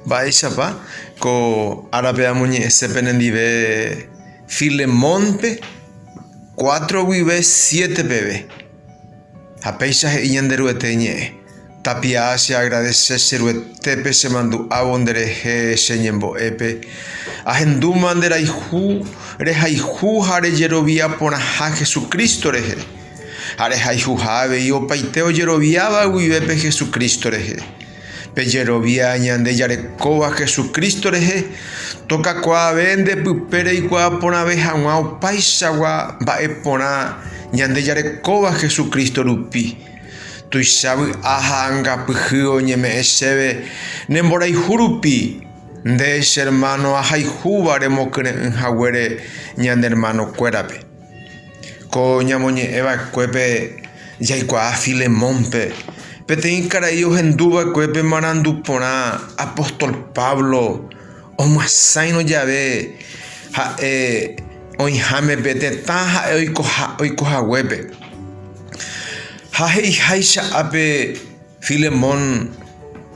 Mba'éichapa ko árape amoñe'ẽse penendive Filemónpe cuatro guive siete peve? Ha péicha he'i Ñanderuete ñe'ẽ, Tapia'a cheagradese che Ruetépe chemandu'ávo nderehe che ñembo'épe, ahendúma nde rayhu, rehayhu ha rejerovia porãha Jesucristo rehe, ha rehayhuha avei opaite ojeroviáva guive pe Jesucristo rehe. Pejerovia ñande jarekóva Jesucristo rehe, tokakuaave nde pype reikuaa porãve hag̃ua opaichagua mba'e porã ñande jarekóva Jesucristo rupi. Tuicha vy'a ha angapyhy oñeme'ẽ chéve ne mborayhu rupi, nde che hermano ahayhúva remokyre'ỹ haguére ñane hermanokuérape. Ko ñamoñe'ẽ va'ekuépe jaikuaa Filemónpe, peteĩ karai ohendu va'ekue pe marandu porã apóstol Pablo omyasãirõ jave ha'e oĩháme pe tetã ha'e oiko haguépe. Ha he'iháicha ápe, Filemón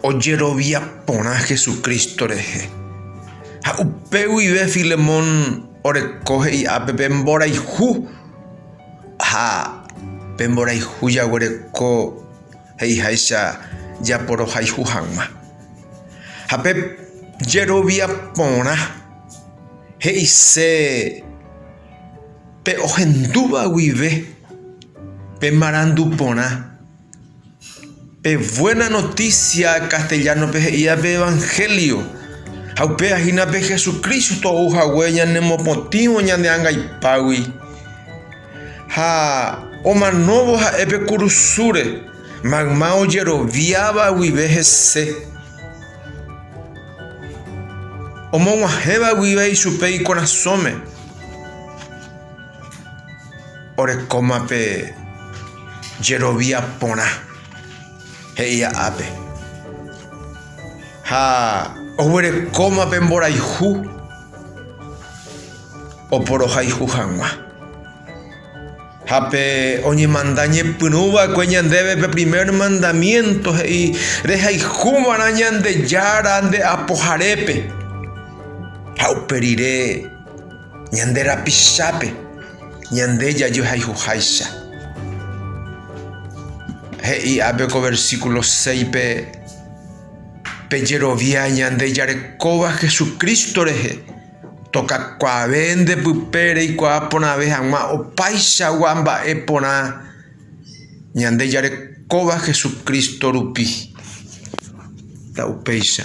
ojerovia porã Jesucristo rehe, ha upe guive Filemón oreko he'i'ápe pe mborayhu, ha pe mborayhu jaguereko he'iháicha japorohayhu hag̃ua. Ha pe jerovia porã he'ise pe ohendúva guive pe marandu porã. Pe Buena Noticia castellano-pe he'íva pe Evangelio. Ha upéva hína pe Jesucristo ou hague ñanemopotĩvo ñande angaipágui. Ha omanóvo ha'e pe kurusúre, mayma ojeroviáva guive hese. Omog̃uahẽva guive ichupe ikorasõme. Orekóma pe jerovia porã, he'i ápe. Ha oguerekóma pe mborayhu oporohayhu hag̃ua. Ha pe oñemanda ñepyrũ va'ekue ñandéve pe primer mandamiénto he'i, Rehayhu va'erã Ñandejára nde apoharépe ha upe rire. Ñande rapichápe ñande jajohayhuháicha. He'i ápe ko versíkulo 6-pe, Pejerovia ñande jarekóva Jesucristo rehe, tokakuaave nde pype reikuaa porãve hag̃ua opaichagua mba'e porã ñande jarekóva Jesucristo rupi. Nda'upéicha.